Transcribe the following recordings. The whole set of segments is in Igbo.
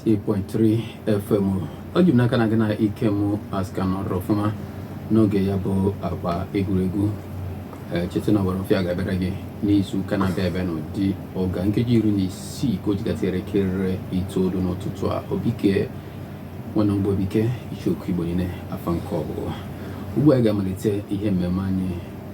98.3 FM ọ ji m n'aka na gị na Ikem Asika nọrọ ọfụma n'oge ya bụ agba egwuregwu ee cheta na ọwara ọfịa ga-abịara gị n'izu ụka na-abịa abịa n'ụdị oge a nkeji iri na isii ka o ji gafee elekere itoolu n'ụtụtụ a obike nwana mgbe obike icheoku igbo niile afa m ka ọ bụ ugbu a anyị ga-amalite ihe mmemme anyị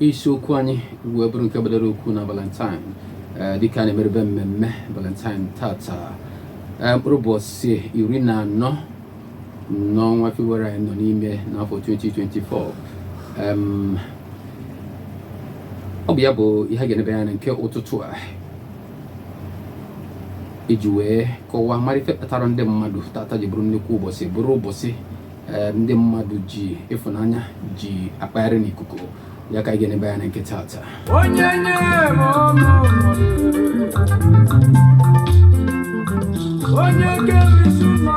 isiokwu anyị wee bụrụ nke gbadara okwu na valentine eh, dịka a na-emerebe mmemme valentine tata eh, mkpụrụ ụbọchị iri na anọ n'ọnwa febụwarị anyị nọ n'ime n'afọ 2024 ọ bụ ya bụ ihe ga-enebe anya nke ụtụtụ a iji wee kọwaa mara ife kpatara ndị mmadụ tata ji bụrụ nnukwu ụbọchị bụrụ ụbọchị eh, ndị mmadụ ji ịfụnanya ji akpagharị n'ikuku ya ka anyị ga-enebe anya nke tata onye nye m ọnụ onye ga-erisi ụlọ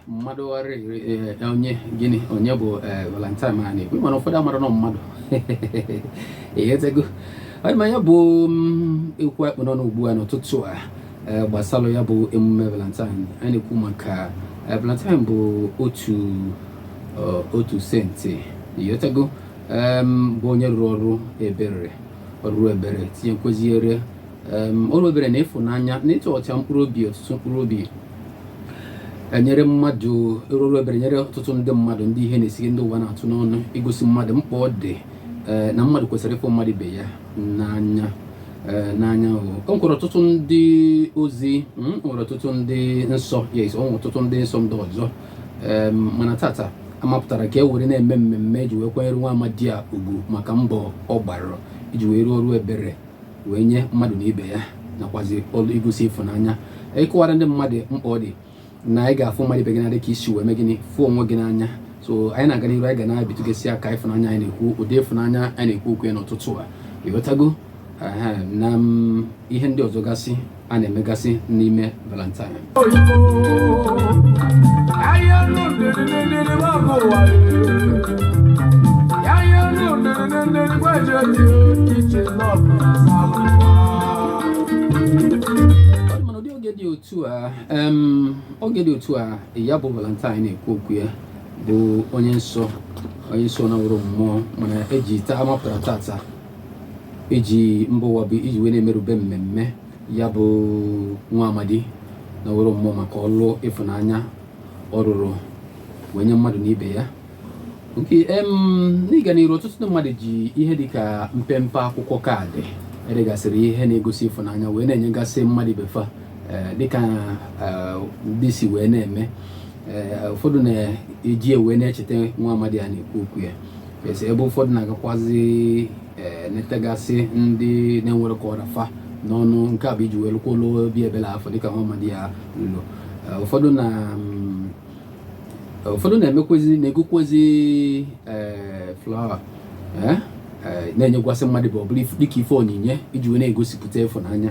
mmadụ ọrịrị eh, onye gịnị onye bụ eh, valentine ma na-ekwu mana ụfọdụ amara na ọ mmadụ ịghọtago ọ dị ma ya bụ mm, okwu a kpụ n'ọnụ ugbu a n'ụtụtụ a eh, gbasara ya bụ emume valentine anyị na-ekwu maka eh, valentine bụ otu eh, otu saint ịghọtago bụ onye rụrụ ọrụ ebere ọrụ ebere tinyekwaziri ọrụ ebere na ịfụnanya na ịtụ ọcha mkpụrụ obi ọtụtụ mkpụrụ obi enyere mmadụ rụrụ ebere nyere ọtụtụ ndị mmadụ ndị ihe na-esiri ndị ụwa na-atụ n'ọnụ igosi mmadụ mkpa ọ dị eh, na mmadụ kwesịrị ịfụ mmadụ ibe ya n'anya Eh, n'anya o nwere ọtụtụ ndị ozi hmm, o nwere ọtụtụ ndị nsọ yes o nwere ọtụtụ ndị nsọ ndị ọzọ mana tata a mapụtara ka e were na-eme mmemme iji wee kwanyere nwa amadi a ugwu maka mbọ ọ gbara iji wee rụọ ọrụ ebere wee nye mmadụ na ibe ya nakwazi ọrụ igosi ịfụnanya ịkọwara ndị mmadụ mkpa ọ dị na ị ga-afụ mmadụ ibe gị n'anya dịka i si wee mee gịnị fụ onwe gị n'anya so anyị na-aga n'iru anyị ga na-ebitụgasị aka ịfụnanya anyị na-ekwu ụdị ịfụnanya anyị na-ekwu okwu ya n'ụtụtụ a ịghọtago na mm, ihe ndị ọzọ gasị a na-emegasị n'ime valentine otu a oge dị otu a ya bụ valentine a na-ekwu okwu ya bụ onye nsọ onye nsọ naworo mmụọ mana eji taa mapụtara tata iji mba ụwa bụ iji wee na-emerube mmemme ya bụ nwa amadi naworo mmụọ maka ọlụ ịfụnanya ọ rụrụ wee nye mmadụ na ibe ya nke n'ịga n'iru ọtụtụ ndị mmadụ ji ihe dịka mpempe akwụkwọ kaadị edegasịrị ihe na-egosi ịfụnanya wee na-enyegasị mmadụ ibe fa eh, dịka eh, ndị si wee na-eme eh, ụfọdụ na-eji wee na-echeta nwa amadi a na-ekwu okwu ya ebe ụfọdụ na-agakwazi netagasị ndị na-enwerọ ka ọ ra fa n'ọnụ nke a bụ iji wee lụkwa ọlụ obi ebele afụ dịka nwa amadi a lụrụ ụfọdụ na mm, ụfọdụ na-emekwezi na-egokwezi ee flawa ee ee, na-enyekwasị mmadụ ibe ọ bụrụ if- dịka ife onyinye iji wee na-egosipụta ịfụnanya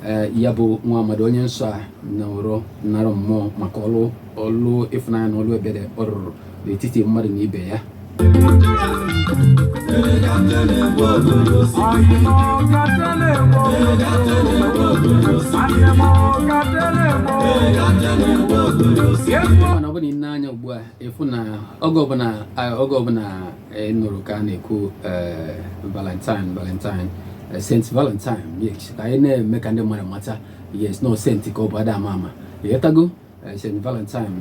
ee ya bụ nwa amadi onye nsọ a nwụrụ nara mmụọ maka ọlụ ọlụ ịfụnanya na ọlụ ebere ọ rụrụ n'etiti mmadụ na ibe ya mana ọ bụrụ na i nee anya ugbu a ị fụ na oge ọbụla oge ọbụla a nụrụ ka a na-ekwu e, valentine valentine e, saint valentine yes ka anyị na-eme ka ndị mmadụ mata yes na ọ saint ka ọ bụ a da ama ama ị ghọtago Eh, St. Valentine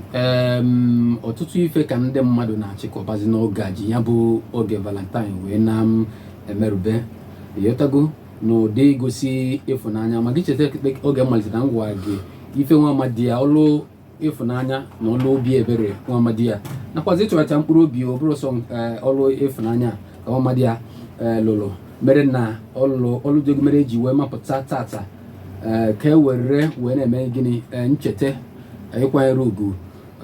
ọtụtụ ife ka ndị mmadụ na-achịkọbazi n'oge a eji ya bụ oge Valentine wee na-emerube ị ghọtago n'ụdị igosi ịfụnanya ma gị cheta oge mmalite na m gwa gị ife nwa amadi a ọlụ ịfụnanya na ọlụ obi ebere nwa amadi a nakwazi ịchọracha mkpụrụ obi ọ bụrọ sọ eh, ọlụ ịfụnanya ka nwa amadi a eh, lụrụ mere na ọlụ ọlụ dị egwu mere e ji wee mapụta tata eh, ka e were wee na-eme gịnị eh, ncheta eh, ịkwanyere ugwu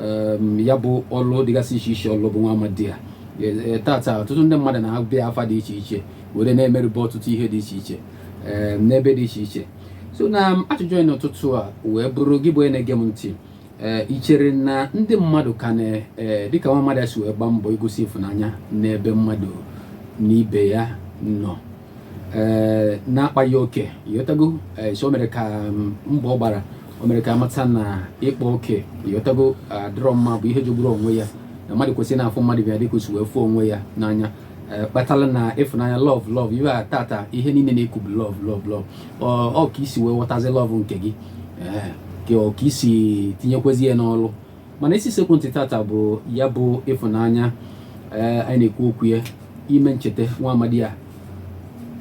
em, ya bụ ọlụ dịgasị iche iche ọ lụ bụ nwa amadi a Eh, eh, tata ọtụtụ ndị mmadụ na-aba ya afa dị iche iche were na-emerube ọtụtụ ihe dị iche iche em, n'ebe dị iche iche so na ajụjụ anyị n'ụtụtụ a wee bụrụ gị bụ onye na-ege m ntị ee i chere na ndị mmadụ ka na ee dịka nwa amadi a si wee gbaa mbọ igosi ịfụnanya n'ebe mmadụ na ibe ya nọ ee na-akpaghị oke ị ghọtago ee so o mere ka mm, mbọ ọ gbara o mere ka a mata na ịkpa oke ị ghọtago adịrọ mma bụ ihe jogburu onwe ya na mmadụ kwesịrị na-afụ mmadụ ibe ya dịka o si wee fụọ onwe ya n'anya ee kpatara na ịfụnanya love love iwe a tata ihe niile a na-ekwu bụ love love love ọ ka i si wee ghọtazi love nke gị ka ọ ka i si tinyekwezi ya n'ọlụ mana isi sekpụ ntị tata bụ ya bụ ịfụnanya eh, anyị na-ekwu okwu ya ime ncheta nwa amadi a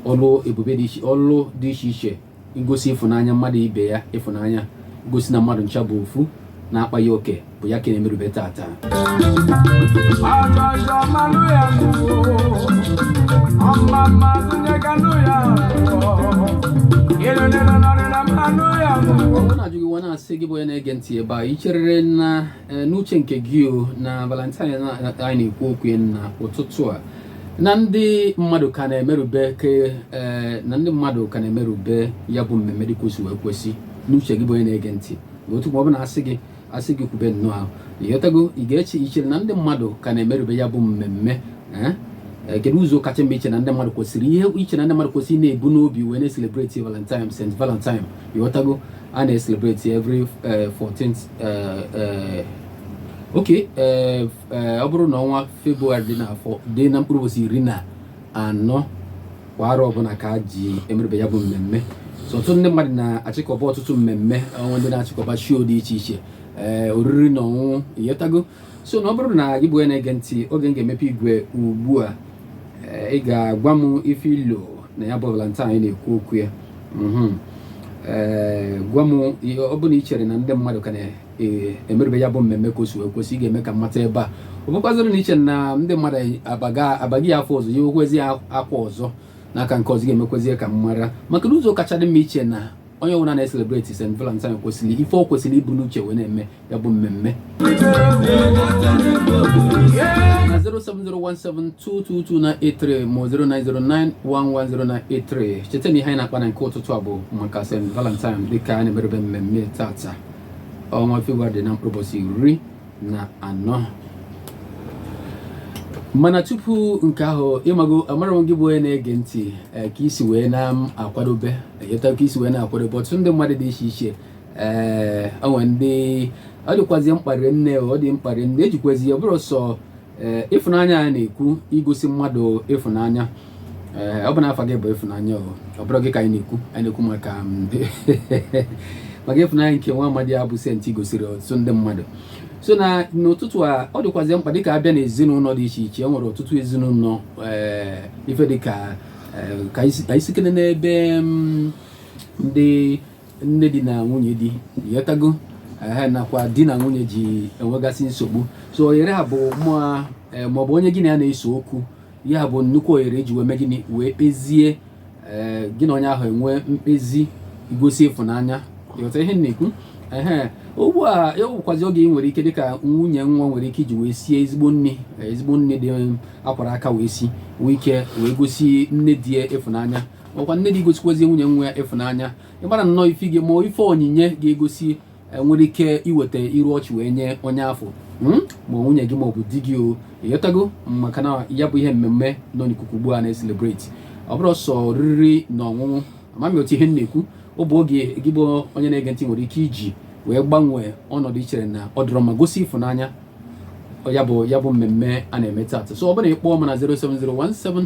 ọlụ ebube dị iche ọlụ dị iche iche ngosi ịfụnanya mmadụ ibe ya ịfụnanya gosi na mmadụ ncha bụ ofu na-akpaghị oke bụ ya ka na-emerube tata ọ na-ajụ gị nwa na-asị gị bụ onye na-ege ntị ebe a ị cherere na e, n'uche nke gị o na valentine anyị na-ekwu okwu ya na ụtụtụ a na ndị mmadụ ka na-emerube ke e, na ndị mmadụ ka na-emerube ya bụ mmemme dịka o si wee kwesị n'uche gị bụ onye na-ege ntị otu ma ọ bụ na-asị gị asị gị kwube nnọọ ahụ ịghọtago ị ga-eche ị chere na ndị mmadụ ka na-emerube ya bụ mmemme eh? Eh, kedu ụzọ kacha mma i che na ndị mmadụ kwesịrị ihe i che na ndị mmadụ kwesịrị na-ebu n'obi wee na-eselebreti valentine st valentine ịghọtago a na-eselebreti every 14th eh, oke ọ bụrụ na ọnwa february dị na dị na mkpụrụ ụbọchị iri na anọ kwa arọ ọbụla ka a ji emerube ya bụ mmemme so ọtụtụ ndị mmadụ na-achịkọba ọtụtụ mmemme o nwe ndị na-achịkọba shoo dị iche iche ee eh, oriri na ọṅụṅụ ịghọtago so na ọ bụrụ na gị bụ onye na-ege ntị oge m ga-emepe igwe ugbu a eh, ị ga-agwa m ife i lo na ya bụ valentine anyị na-ekwu okwu ya mhm. eh, gwa m ọ bụ na ị chere na ndị mmadụ ka na ee emerube ya bụ mmemme ka o si wee kwesị ị ga-eme ka m mata ebe a ọ bụkwazịrị na i che na ndị mmadụ abaga abaghị ya afọ ọzọ ya okwezi ya akwa ọzọ n'aka nke ọzọ ga-emekwezie ka m mara maka na ụzọ kacha dị mma i che na onye ọbụla na-eselebreti St. Valentine kwesịrị ife ọ kwesịrị ibu n'uche wee na-eme ya bụ mmemme na 07017222983 ma 090911093 cheta na ihe anyị na-akpa na nke ụtụtụ a bụ maka St. Valentine dịka a na-emerube mmemme tata ọnwa Febrụwarị dị na mkpụrụ ụbọchị iri na anọ mana tupu nke ahụ ịmago amarọ m gị bụ onye na-ege ntị eh, ka i si wee na-akwadobe ịta ka i si wee na-akwadobe ọtụtụ ndị mmadụ dị iche iche ee eh, o nwe ndị ọ dịkwazi mkpa rinne ọ dị mkpa rinne ejikwazi ya bụrọ sọ ee ịfụnanya a na-ekwu igosi mmadụ ịfụnanya ee ọ bụ na afa gị bụ ịfụnanya ọ bụrọ gị ka anyị na-ekwu anyị na-ekwu maka mm, maka ịfụnanya nke nwa amadi a bụ saint gosiri ọtụtụ ndị mmadụ so na n'ụtụtụ a ọ dịkwazị mkpa dịka a bịa na ezinụlọ dị iche iche e nwere ọtụtụ ezinụlọ ee ife dịka ka anyị sịkene n'ebe mm, ndị nne di na nwunye di ịghọtago ehe nakwa di na nwunye ji enwegasị nsogbu so ohere a bụ mm eh, maọbụ onye gị na ya na-ese okwu ya bụ nnukwu ohere e ji wee mee gịnị wee kpezie eh, gị na onye ahụ enwee mkpezi igosi ịfụnanya ịghọta ihe m na-ekwu ehe ugbu a bụkwazi oge ị nwere ike dịka nwunye nwa nwere ike iji wee sie ezigbo nni ezigbo nni a kwara aka wee sie wee ike wee gosi nne di ya ịfụnanya ọkwa nne di gosikwazie nwunye nwa ya ịfụnanya ịgbara nnọọ ife gị ma ife onyinye ga-egosi e, nwere ike iweta iru ọchị wee nye onye afụ hmm? ma nwunye gị maọbụ di gị o ị ghọtago maka na ya bụ ihe mmemme nọ n'ikuku ugbu a na-eselebreti ọ bụrọ sọ oriri na ọṅụṅụ amami otu ihe m na-ekwu ọ bụ oge gị bụ onye na-ege ntị nwere ike iji wee gbanwee ọnọdụ i chere na ọ dịrọ mma gosi ịfụnanya ya bụ ya bụ mmemme a na-eme taata so ọ bụrụ na ị kpọọ m na 07017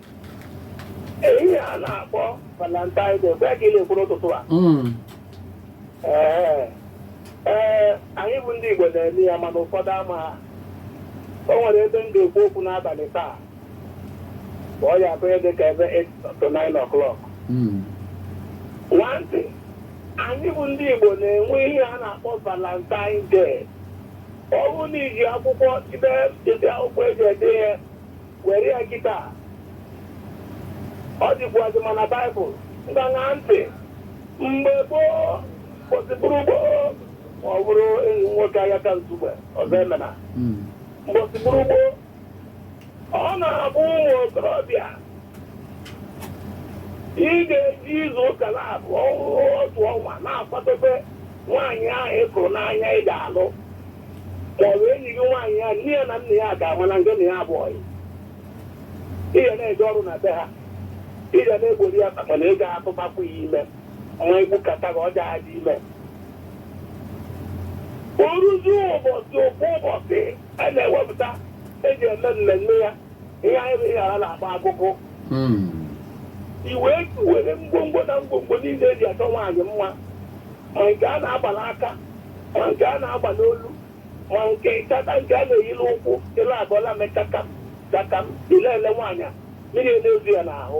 Ee, ihe a na-akpọ Valentine Day, mgbe ka ị na-ekwu n'ụtụtụ a. Mm. Ee, ee, anyị bụ ndị Igbo na-eme ya mana ụfọdụ amaha. O nwere ebe m ga-ekwu okwu n'abalị taa. Ma ọ ya-abụrụ dị ka ebe 8 to 9 o'clock. Mm. Ṅaa ntị, anyị bụ ndị Igbo na-enwe ihe a na-akpọ Valentine Day. Ọ bụrụ na i ji akwụkwọ ide ide akwụkwọ eji ede ihe were ya kịta ọ dịkwuazị ma na baịbụl ṅaa ntị mgbe gboo gboo si bụrụ gboo ma ọ bụrụ enyi m nwoke Ayaka Nsugbe Ọzọemena Mm. mgbe o si bụrụ gboo ọ na-abụ ụmụ okorobịa ị ga-eji izu ụka naabọ ọnwa otu ọnwa na-akwadobe nwaanyị ahụ ị hụrụ n'anya ị ga-alụ ma ọ bụ enyi gị nwaanyị ya nne ya na nna ya ga-ama na ngị na ya bụ ọyị ị ga na-eje ọrụ na be ha ị ga na-egbori ya mana ị ga-atụbakwu ya ime ma egbukata gị ọ ja-adị ime o ruzie ụbọchị ofu ụbọchị a na-ewepụta eji eme mmemme ya ihe anyị bụ Ihiala na-agba akụkụ Mm. i wee were ngwongwo na ngwongwo niile eji achọ nwaanyị mma ma nke a na-agba n'aka ma nke a na-agba n'olu ma nke ịchata nke a na-eyi n'ụkwụ ọla abụọ la-eme chakam chakam i lele nwaanyị a mmiri na-ezo ya n'ahụ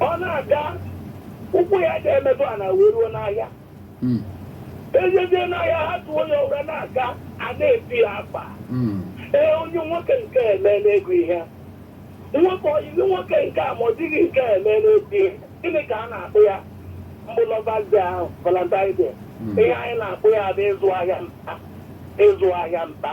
ọ na-aga ụkwụ ya ji emetụ ala wee ruo n'ahịa Mm, e jezie n'ahịa ha tụọ onye ụra na-aga a na-eti ya akpa mm, ee onye nwoke nke a emeela ego ihe nwoke ọyịzi nwoke nke a ma ọ dịghị nke a emeela ego ihe gịnị ka a na-akpọ ya bụ lovers day ahụ valentine day Mm. ihe anyị na-akpọ ya bụ ịzụ ahịa mkpa ịzụ ahịa mkpa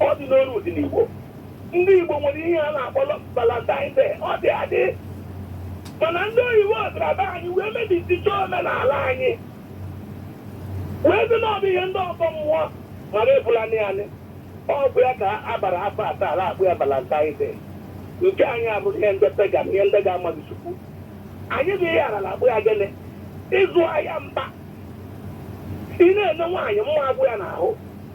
Ọ dị n'Oru dị n'Igbo. Ndị Igbo nwere ihe a na-akpọ Valentine Day. Ọ dị adị. Mana ndị oyibo bịara be anyị wee mebisicha omenala anyị. Wee sị na ọ bụ ihe ndị ọgọ mmụọ mara ebula nị anyị. Ọ bụ ya ka a bara afọ asaa a la-akpọ ya Valentine Day. Nke anyị abụrụ ihe ndị pagan, ihe ndị na-amaghị Chukwu. Anyị bụ Ihiala akpọ ya gịnị? Ịzụ ahịa mba. Ị na-ene nwaanyị mma agwụ ya n'ahụ.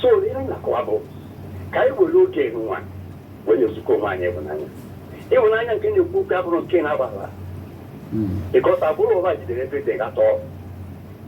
so ihe anyị na-akọwa bụ ka anyị were oge nwa wee na-ezikọ onwe anyị ịhụnanya ịhụnanya nke na-ekwu okwu abụrọ nke na-agbara ịkọta abụrọ ụwa jidere ebe dị atọ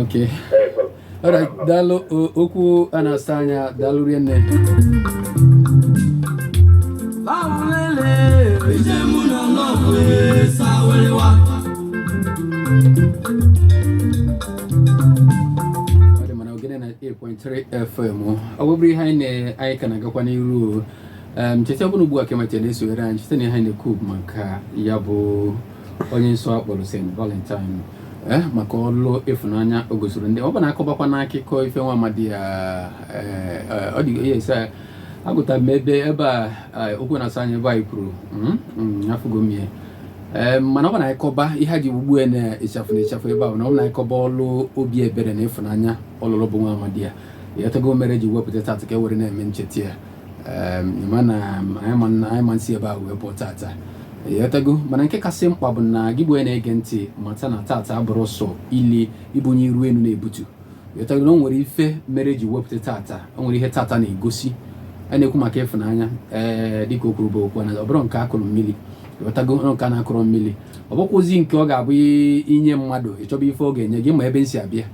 okay all right daalụ o- okwu na-asa anya daalụ rinne ọ dị mana ogene 98.3 fm ọ bụrụ ihe anyị na- anyị ka na-agakwa n'iru o. Em, cheta ọbụna ugbu a ka i mechara na-esonyere anyị cheta na ihe anyị na-ekwu bụ maka ya bụ onye nsọ akpọrọ St. Valentine eh, maka ọlụ ịfụnanya o gosiri ndị ọ bụ na akọbakwa n'akụkọ ife nwa amadi ya eh, eh, ọ dị ya ese agụta m ebe ebe a okwu na-asa anya ebe anyị kwuru hmm, hmm, afụgo m ihe mana ọ bụ na akọba ihe e ji ugbu a na-echafụ na echafụ ebe ahụ na ọ bụ na akọba ọlụ obi ebere na ịfụnanya ọ lụlụ bụ nwa amadi ya ịghọtago mere e ji wepụta tata ka e were na-eme ncheta ya ịma na anyị ama-esi ebe a wee pụọ tata ịghọtago mana nke kasị mkpa bụ na gị bụ onye na-ege ntị mata na tata abụrọ sọ ili ibunye iru enu na-ebutu ịghọtago na o nwere ife mere e ji wepụta tata o nwere ihe tata na-egosi a na-ekwu maka ịfụnanya ee dịka o kwuru bụ okwu na ọ bụrọ nke a kụrụ mmiri ghọtago nke a na-akụrụ mmiri ọ bụkwazị nke ọ ga-abụ i nye mmadụ ị chọba ife ọ ga-enye gị ị ma ebe m si abịa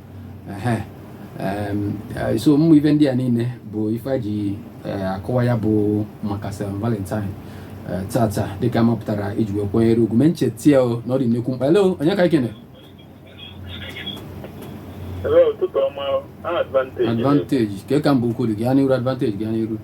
Eh, so ụmụ ife ndị a niile bụ ife a ji eh, akọwa ya bụ maka St. Valentine eh, tata dịka a mapụtara iji wee kwanyere ugwu mee nchetia na ọ dị nnekwu mkpa hello onye ka ikene advantage kee ka Mbaukwu dị gaa n'iru advantage gaa n'iru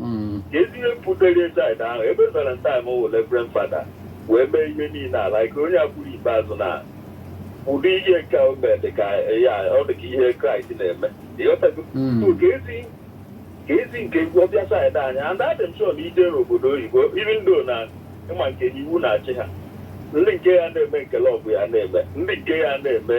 mm. kezi ihe butere side ahụ ebe valentine wụ reverend fada wee mee ihe niile a like onye a kwuru ikpeazụ na ụdị ihe nke o mere dị ka ya ọ dị ka ihe kraịst na-eme ịghọtago Mm. So, kezi kezi nke egwu ọ bịa side anyị and adị m sure na i jee n'obodo oyibo even though na ịma nke na iwu na-achị ha ndị nke ya na-eme nke love ya na-eme ndị nke ya na-eme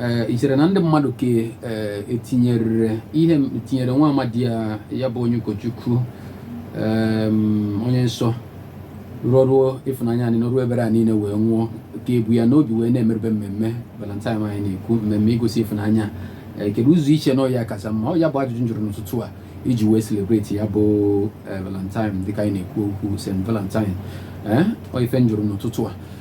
ee i chere na ndị mmadụ ka ee etinyerere ihe m tinyere nwa amadi ya ya bụ onye ụkọchukwu em, onye nsọ rụrụ ọrụ ịfụnanya anyị n'ọrụ ebere a niile wee nwụọ ka e bu ya n'obi wee na-emerube mmemme valentine anyị na-ekwu mmemme igosi ịfụnanya ee, kedu ụzọ i che na ọ ya kacha mma ọ ya bụ ajụjụ m jụrụ n'ụtụtụ a iji wee celebrate ya bụ ee, valentine dịka anyị na-ekwu okwu st valentine ee ọ ife m jụrụ n'ụtụtụ a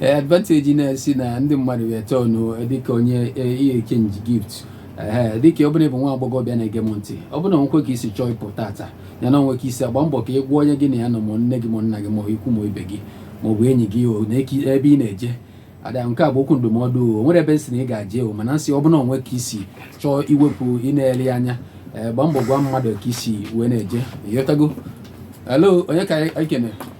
Eh, advantage na-asị na ndị mmadụ ga-ete ọnụ eh, dịka onye eh, exchange gift dịka ọ bụrụ na ị bụ nwa agbọghọbịa na-ege m ntị ọ bụrụ na o nwekwe ka i si chọọ ịpụ tata ya na o nwee ka i si agba mbọ ka ị gwa onye gị na ya nọ ma nne gị ma nna gị ma ikwu ma ibe gị ma ọ bụ enyi gị ebe ị na-eje ada nke a bụ okwu ndụmọdụ o nwere ebe m sị na ị ga-eje o mana m sị ọ bụrụ na o nwee ka i si chọọ iwepụ ị na-ele anya gba mbọ gwa mmadụ ka i si wee na-eje ịghọtago hello onye ka anyị kene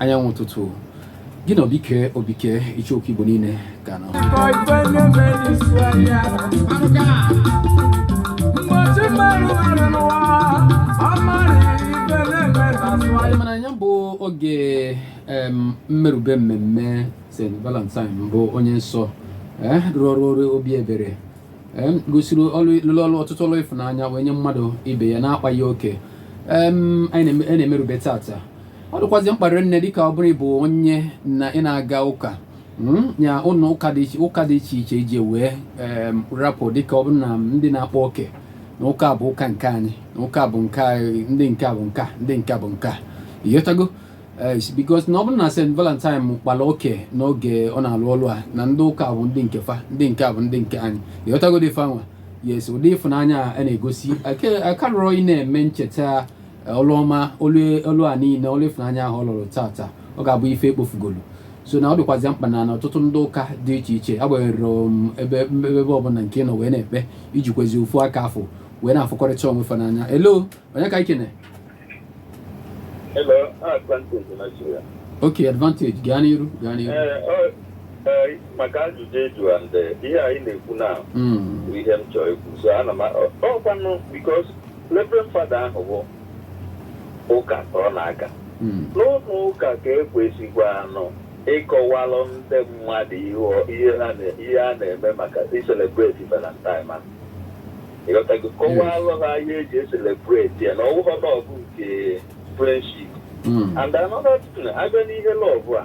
anyanwụ ụtụtụ gị na obike obike icheoku igbo niile ka nọ mana nya bụ oge mmerube mmemme st valentine bụ onye nsọ eh, rụrụ ọrụ ọrụ obi ebere gosiri lụrụ ọrụ ọtụtụ ọrụ ịfụnanya wee nye mmadụ ibe ya na-akpaghị oke anyị na-emerube tata ọ dịkwazị mkpa rinne dịka ọ bụrụ ị bụ onye na ị na-aga ụka hmm, ya ụlọ ụka dị iche ụka dị iche iche iji wee rapụ dịka ọ bụrụ na ndị na-akpa oke na ụka bụ ụka nke anyị na ụka bụ nke anyị ndị nke bụ nke ndị nke bụ nke ịghọtago eh, because na ọ bụrụ na St. Valentine kpara oke n'oge ọ na-alụ ọlụ a na ndị ụka bụ ndị nke fa ndị nke bụ ndị nke anyị ịghọtago dị fa nwa yes ụdị ịfụnanya a na-egosi akarịrọ ị na-eme ncheta ọlụ ọma ọlụ a niile ọlụ ịfụnanya ahụ ọ lụrụ tata ọ ga-abụ ife e kpofugolu so na ọ dịkwazị mkpa na ọtụtụ ndị ụka dị iche iche agbanyeghị um, ebe ebe ọbụla nke nọ wee na-ekpe iji kwezi ofu aka afọ wee na-afụkọrịta onwe fa n'anya hello onye ka ikene ok advantage gaa n'iru gaa n'iru eh, eh, maka ajụjụ eju eh, ihe anyị na-ekwu na hmm. ihe m chọrọ ikwu so ana m ọkwanụ because Reverend Father ahụ bụ ụka ka ọ na-aga hmm. n'ụlọ ụka ka e kwesịkwanụ ịkọwalụ ndị mmadụ ihe a na-eme maka iselebreti valentine ma ịghọtago kọwalụ ha ihe e ji eselebreti ya na ọwụghọ love nke friendship hmm. and another thing a bịa n'ihe love a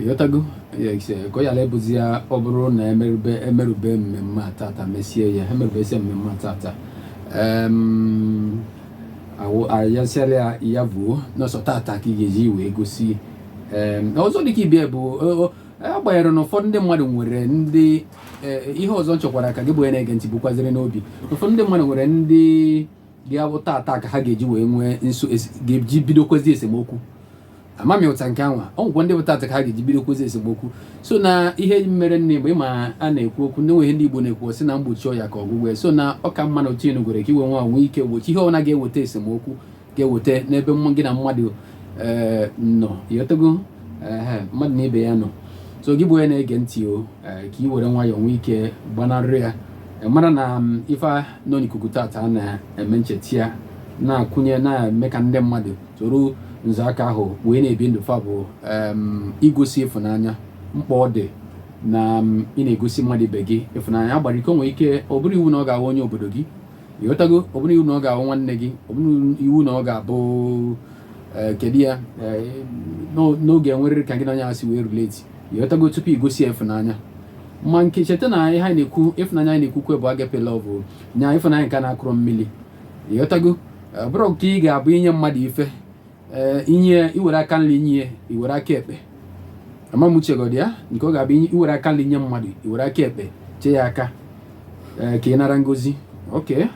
ịghọtago ka ọ ghala ịbụzi ya ọ bụrụ na e merube e merube mmemme a tata mesie ya e merubesi mmemme a tata ayasịara ya ya vuo n'ọsọ tata ka ị ga-eji wee gosi ọzọ dịka ibe ya bụ agbanyeghị na ụfọdụ ndị mmadụ nwere ndị e, ihe ọzọ m chọkwara ka gị bụ onye na-ege ntị bukwaziri n'obi ụfọdụ ndị mmadụ nwere ndị bịa bụ taata ka ha ga-eji wee nwee nso ga-eji bidokwezi esemokwu amami ụta nke anwa o nwekwa ndị bụ taata ka ha ga-eji bidokwezi esemokwu so na ihe mere nne mgbe ịma a na-ekwu okwu na e nwee ihe ndị Igbo na-ekwu sị na mgbochi ọya ka ọgwụgwọ so na ọ ka mma na otu enugwere ka i wee nwaa nwee ike gbochi ihe ọbụla ga-eweta esemokwu ga-eweta n'ebe gị na mmadụ eh, nọ ịghọtago mmadụ na ibe ya nọ so gị bụ onye na-ege ntị o eh, ka ị were nwayọọ nwee ike gbanarị ya eh, mara na mm, ife nọ n'ikuku tata a na-eme ncheta ya na-akụnye na-eme ka ndị mmadụ soro nzọaka ahụ wee na-ebi ndụ fa bụ igosi ịfụnanya mkpa ọ dị na ị na-egosi mmadụ ibe gị ịfụnanya agbara ike nwee ike ọ bụrọ iwu na ọ ga-awụ onye obodo gị ịghọtago ọ bụrọ iwu na ọ ga-awụ nwanne gị ọ bụrọ iwu na ọ ga-abụ e, kedu ya e, na ọ ga-enwerịrị ka gị na onye a si wee relate ịghọtago tupu igosi ya ịfụnanya ma nke cheta na ihe anyị na-ekwu ịfụnanya anyị na-ekwukwa bụ agape love nya ịfụnanya nke na-akụrụ mmiri ịghọtago ọ bụrọ nke ị ga-abụ inye mmadụ ife eh, inye iwere aka nri nye ya iwere aka ekpe amamuchegodi ya nke ọ ga-abụ iwere aka nri nye mmadụ iwere aka ekpe chee ya aka eh, ka ị nara ngozi oke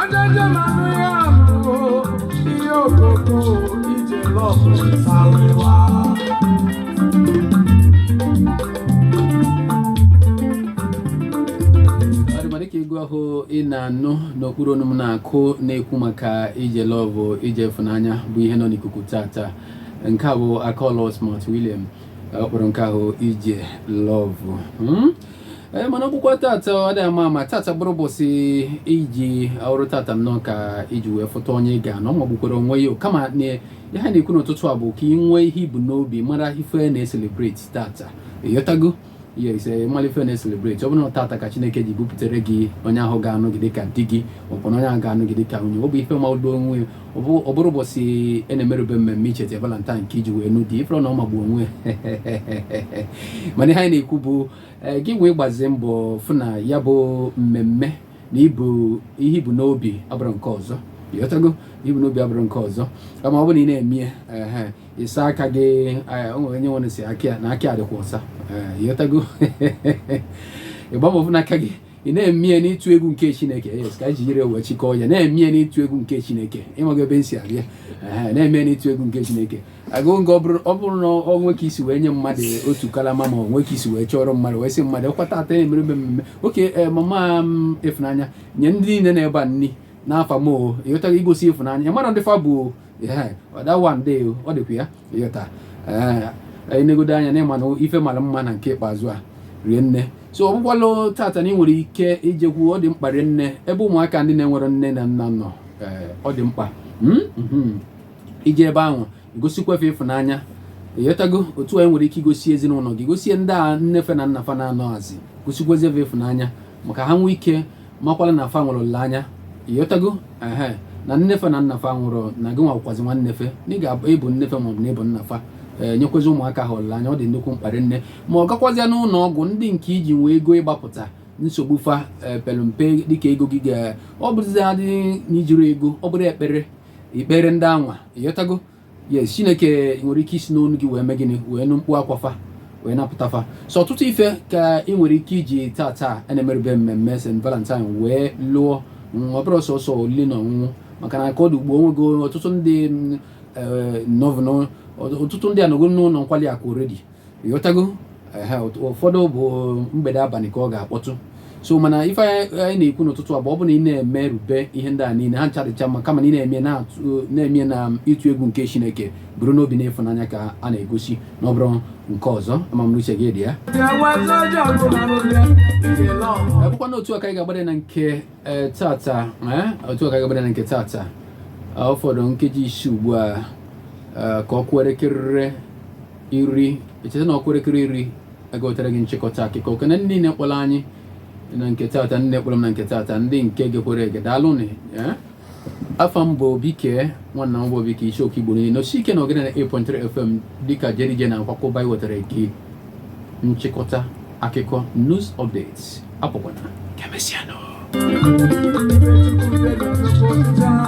Ọjọjọ ma nụ ya bụ ihe okoko ije love salịwa. ọ dị mma dịka egwu ahụ ị na-anụ n'okpuru onu m na-akụ na-ekwu maka ije love ije ịfụnanya bụ ihe nọ n'ikuku tata nke a bụ akọlọ smart william ọ kpọrọ nke ahụ ije love Hmm? ee eh, mana ọ bụkwa tata ọ dị mma ma tata bụrụ ụbọchị i ji ọ bụrụ tata nnọọ ka i ji wee fụta onye ị ga-anụ ọ magbukwara onwe ya kama na ihe ha na-ekwu n'ụtụtụ a bụ ka ị nwee ihe ibu n'obi mara ife a na-ecelebrate tata ịghọtago yes malụ ife a na-ecelebrate ọ bụrụ tata ka Chineke ji bupụtara gị onye ahụ ga-anụ gị dịka di gị ọ bụrụ onye ahụ ga-anụ gị dịka nwunye ọ bụ ife magbu onwe ọ bụrụ ụbọchị a e na-emerube mmemme icheta valentine ka i ji wee nụ di ịfụrụ na ọ magbu onwe mana ihe anyị na-ekwu bụ eh, gị wee gbazie mbọ fụ na ya bụ mmemme na ibu ihe i bu n'obi abụrọ nke ọzọ ịghọtago i bu n'obi abụrọ nke ọzọ kama ọ bụ na ị na-eme ya ịsa aka gị eh, onwere onye nwere sị aka ya na aka ya dịkwa ọsa eh, ịghọtago ịgba mbọ fụ na aka gị ị na-emie n'ịtụ egwu nke chineke yes ka e jiri wee chịkọọ ya na-emie n'ịtụ egwu nke chineke ị mago ebe m si abịa na-eme n'ịtụ egwu nke chineke agụ nke ọ bụrụ na o nwee ka i si wee nye mmadụ otu kalama ma o nwee ka i si wee chọrọ mmadụ wee sị mmadụ ọ kwa tata a na-emere mmemme oke eh, mama m mm, ịfụnanya nye ndị niile nọ ebe a nni n'afa m ịghọtago igosi ịfụnanya mara ndị fa bụ ọ dịkwa ya ịghọta anyị negodo anya na ịma na ife mara mma na nke ikpeazụ a rie nne so ọ bụkwala tata na ị nwere ike ijekwu ọ dị mkpa rie nne ebe ụmụaka ndị na-enwerọ nne na nna nọ ọ dị mkpa hmm? Hmm. ije ebe ahụ gosikwa fe ịfụnanya ịghọtago otu a ị nwere ike igosi ezinụlọ gị gosie ndị a nne fe na nna fa na-anọghazi gosikwazi fe ịfụnanya maka ha nwee ike makwala na fa nwere olileanya ịghọtago ehe na nne fe na nna fa nwụrụ na gị nwakwazi nwanne fe na ị ga-abụ ị bụ nne fe maọbụ na ị bụ nna fa Eh, nyekwazi ụmụaka ha olileanya ọ dị nnukwu mkpa rie nne ma ọ gakwazịa n'ụlọ ọgwụ ndị nke iji nwee ego ịgbapụta nsogbu fa eh, pelụ mpe dịka ego gị ga ọ bụrụzi adị na ijirọ ego ọ bụrụ ekpere i kpeere ndị anwa ịghọtago yes chineke nwere ike isi n'ọnụ gị wee mee gịnị wee nụ mkpu akwa fa wee napụta fa so ọtụtụ ife ka ị nwere ike iji tata na-emerube mmemme st valentine wee lụọ mm, ọ bụrọ sọsọ olili na ọṅụṅụ maka na ka ọ dị ugbua o nwego ọtụtụ ndị mm, eh, nọvụnụ ọtụtụ ndị anọgo n'ụlọ nkwali akụ already ịghọtago ụfọdụ bụ mgbede abalị ka ọ ga-akpọtụ so mana ife anyị na-ekwu n'ụtụtụ a bụ ọ bụ na ị na-emerube ihe ndị a niile ha ncha dịcha mma kama na ị na-eme na-eme na ịtụ egwu nke chineke bụrụ n'obi na ịfụnanya ka a na-egosi na ọ bụrọ nke ọzọ ama m na uche gị dị ya bụkwa na otu a ka anyị ga-agbada na nke e, tata e, otu a ka anyị ga-agbada na nke tata ọ fọdụ nkeji isii ugbu a e, ka ọ kụọ iri echeta na ọ kụọ elekere iri a ga-ewetara gị nchịkọta akụkọ ekene ndị niile kpọrọ anyị na nke tata ndị kpọrọ m na nke tata ndị nke gekwere ege daalụnụ eh? afa m bụ obike nwanna m bụ obike ichoku igbo niile n'osi ike na ogene 98.3 fm dịka jerije na-akwakọba iwetara gị nchịkọta akụkọ news updates apụkwana kemesianụ